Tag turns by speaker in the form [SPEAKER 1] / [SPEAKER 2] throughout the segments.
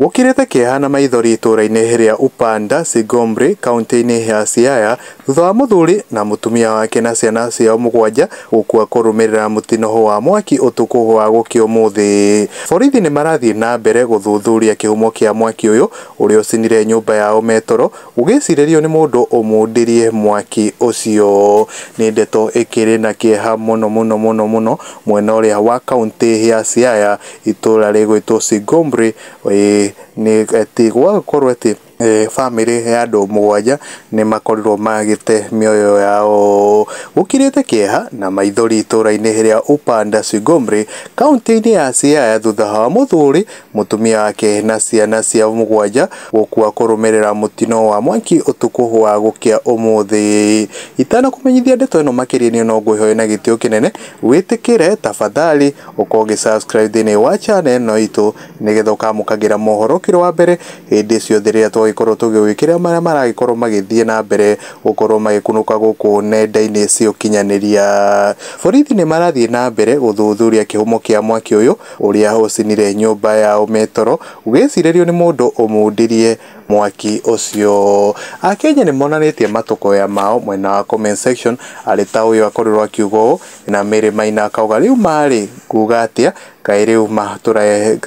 [SPEAKER 1] Gũkĩrĩte kĩeha na maithori itũũra-inĩ rĩa Upanda, Sigombe, kauntĩ-inĩ ya Siaya, thutha wa mũthuri na mũtumia wake na ciana ciao mũgwanja gũkua kũrũmĩrĩra mũtino wa mwaki ũtukũ wa gũkĩa ũmũthĩ. Borithi nĩ marathiĩ na mbere gũthuthuria kĩhumo kĩa mwaki ũyũ ũrĩa ũcinire nyũmba yao me toro, gũgĩcirĩrio nĩ mũndũ ũmundirie mwaki ũcio. Nĩ ndeto ĩkĩrĩ na kĩeha mũno mũno mũno mũno mwena ũrĩa wa kauntĩ ya Siaya, itũũra rĩgwĩtwo Singombre, ĩĩ nĩ atĩ gwagĩkorwo atĩ bamĩrĩ ya andũ mũgwanja nĩ makorirwo magĩte mĩoyo yao gũkirĩte kĩeha na maithori itũũra-inĩ rĩa Upanda Singombre, kauntĩ-inĩ ya Siaya thutha wa mũthuri, mũtumia wake na ciana ciao mũgwanja gũkua kũrũmĩrĩra mũtino wa mwaki ũtukũ wa gũkĩa ũmũthĩ. Itanakũmenyithia ndeto ĩno makĩria niĩ no ngwĩhoe na gĩtĩo kĩnene wĩtĩkĩre tafadhali Ũkorwo ũgĩ subscribe thĩinĩ wa channel ĩno itũ nĩgetha ũkamũkagĩra mohoro ũkĩrĩ wa mbere hĩndĩ ciothe rĩrĩa twagĩkorwo tũgĩgwĩkĩra marĩa maragĩkorwo magĩthiĩ na mbere gũkorwo magĩkunũka gũkũ nenda-inĩ cia ũkinyanĩria. Borithi nĩ marathiĩ na mbere gũthuthuria kĩhumo kĩa mwaki ũyũ ũrĩa ũcinire nyũmba ya ũme toro ũgĩcirĩrio nĩ mũndũ ũmundirie mwaki ũcio. Akenya nĩ monanĩtie matũkũya mao mwena wa comment section arĩ ta ũyũ akorirwo akiuga ũũ. Na Mary Maina akauga rĩu ma rĩ, nguga atĩa, kaĩ rĩu ma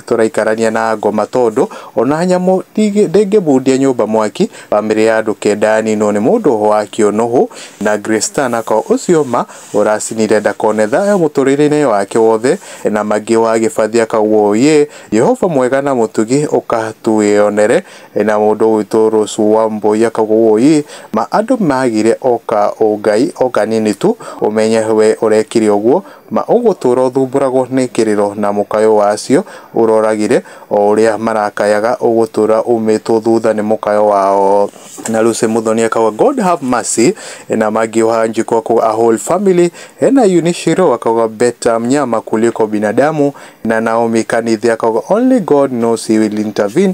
[SPEAKER 1] tũraikarania na ngoma tondũ ona nyamũ ndĩngĩmundia nyũmba mwaki, bamĩrĩ ya andũ kenda yaninwo nĩ mũndũ wakĩo nũhũ. Na Grace Stan akauga ũcio ma ũracinire ndakone thayũ mũtũrĩre-inĩ wake wothe. Na Maggie wa Gĩbathi akauga ũũyĩ, Jehova mwega na mũtugi ũka twĩyonere. Na mũndũ witũ Rose Wambũi akauga ũũ, Ma andũ magĩre o ka ũngai o kanini tu, ũmenye we ũrekire ũguo, ma ũgũtũra ũthumbũragwo nĩ kĩrĩro na mũkayo wa acio ũroragire, o ũrĩa marakayaga ũgũtũra umĩtwo thutha nĩ mũkayo wao. Na Lucy Muthoni akauga God have mercy. Na Maggie Wanjikũ akauga a whole family. Na Eunice Shirũ akauga better mnyama kuliko binadamu. Na Naomi Kanithe akauga only God knows he will intervene.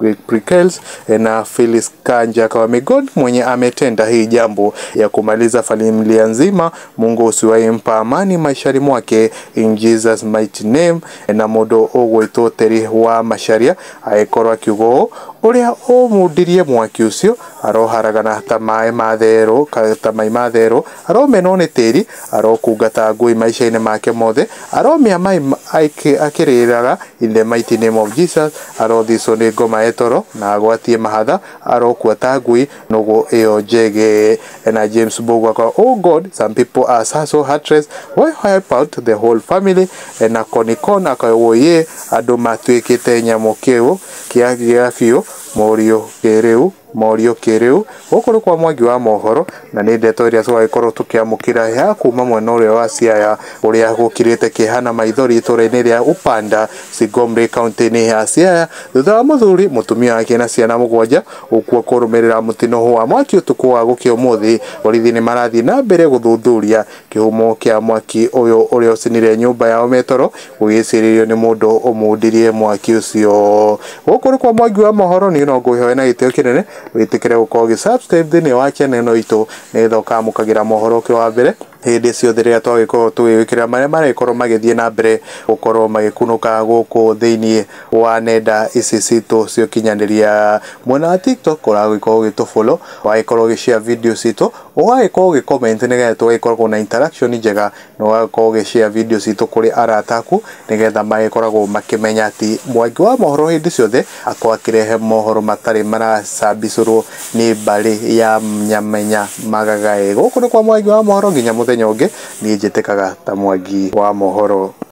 [SPEAKER 1] Greg Prickels na Phyllis Kanja Kawamegod mwenye ametenda hii jambo ya kumaliza familia nzima. Mungu usiwahi mpa amani maishani mwake in Jesus mighty name, na mũndũ ũgwĩtwo Teri wa Macharia agĩkorwo akiuga ũũ ũrĩa ũmundirie mwaki ũcio aroharagana ta maĩ ma therũ ka- ta mai ma therũ aromenwo nĩ tĩri Arokungata ngũĩ maica-inĩ make mothe, aromĩa mai akĩrĩraga, in the mighty name of Jesus, arothicwo nĩ ngoma e toro, na agwatie mahatha, arokua ta ngũi, nũgũ ĩyo njege. Na James Mbũgua akorwo, oh God, some people are so so heartless, why wipe out the whole family, na Konikon akorwo, woyee, andũ matuĩkĩte nyamũ kĩu kĩa gĩa biũ, mũriũ kĩrĩu. Morio kĩrĩu, Gũkũ nĩ kwa Mwangi wa mohoro, na nĩ ndeto ĩrĩa tũragĩkorwo tũkĩamũkĩra ya kuma mwena ũrĩa wa Siaya, ũrĩa gũkĩrĩte kĩeha na maithori itũra-inĩ rĩa Upanda, Sigombe kauntĩ-inĩ ya Siaya, thutha wa mũthuri, mũtumia wake na ciana mũgwanja gũkua kũrũmĩrĩra mũtino wa mwaki ũtukũ wa gũkĩa ũmũthĩ. Borithi nĩ marathiĩ na mbere gũthuthuria. Kĩhumo kĩa mwaki ũyũ ũrĩa ũcinire nyũmba yao me toro gũgĩcirĩrio nĩ mũndũ ũmundirie mwaki ũcio. Gũkũ nĩ kwa Mwangi wa Mohoro, niĩ no ngũgĩhoe na gĩtĩo kĩnene wĩtĩkĩre gũkorwo ũgĩ subscribe thĩinĩ wa channel ĩno itũ nĩgetha ũkamũkagĩra mohoro ũkĩrĩ wa mbere hĩndĩ ciothe rĩrĩa twagĩkorwo tũgĩgwĩkĩrĩra marĩa marĩkorwo magĩthiĩ na mbere gũkorwo magĩkunũka gũkũ thĩinĩ wa nenda ici citũ cia ũkinyanĩria. Mwena wa TikTok ũragĩkorwo ũgĩtũ follow, ũgagĩkorwo ũgĩ share video citũ. Ũgagĩkorwo ũgĩ comment nĩgetha tũgagĩkoragwo na interaction njega, na ũgagĩkorwo ũgĩ share video citũ kũrĩ arata aku, nĩgetha magĩkoragwo makĩmenya atĩ Mwangi wa mohoro hĩndĩ ciothe akoragwo akĩrehe mohoro matarĩ maracabicũrwo nĩ mbarĩ ya Nyamenya Magagai. Gũkũ nĩ kwa Mwangi wa mohoro nginya mũthenya ũngĩ, niĩ njĩtĩkaga ta Mwangi wa mohoro.